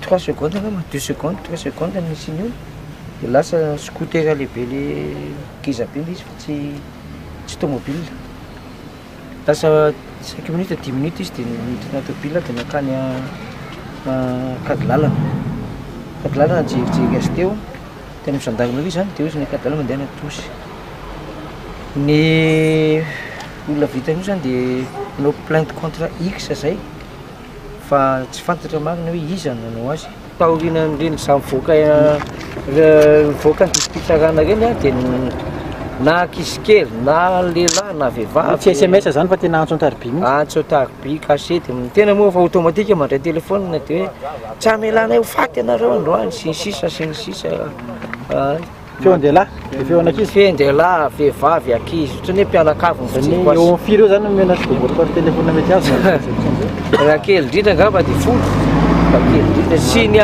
Trois secondes angamba, deux secondes, trois secondes ny nisian'io de lasa scooter lehibe le ngeza be le izy fa tsy tsy tomobile, lasa cinq minutes dix minutes izy de niditra anaty tôbile de nankany ankady lalana, ankady lalana nijerijery azy teo, tany amin'ny zandary nareo zany de ozy ny ankady lalana mandehana Antosy, ny olona vita an'io zany de nanao plainte contre X zay. fa tsy fantatra marina hoe iza no nanao azy. Taorian'ireny zah mivoaka mivoaka ny didim-pitsarana ireny aho dia na ankizy kely na lehilahy na vehivavy. Tsy SMS izany fa tena antso an-tariby mihitsy. Antso an-tariby, cachet. Tena moa fa automatique mandray telefaonina dia hoe tsy hamelana ahy ho faty ianareo androany sy ny sisa sy ny sisa. Feon-dehilahy? Dia feon'ankizy? Feon-dehilahy, vehivavy, ankizy, ohatran'ny hoe mpianakavy no fijeriko azy. Eo amin'ny firy eo izany no omena azy boboty par téléphone mety azo na réception izay? Raha kely indrindra angamba dia folo, raha kely indrindra. Sy ny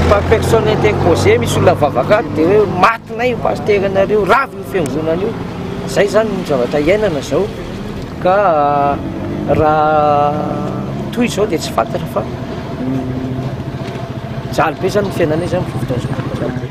par personne interposée, misy olona mivavaka ato dia hoe matinay io pasitera anareo, raviny io fiangonana io. Izay izany no zavatra iainana izao. Ka raha toy izao dia tsy fantatra fa mijaly be izany ny fiainanay izany mivovotra an'izao tontolo izao.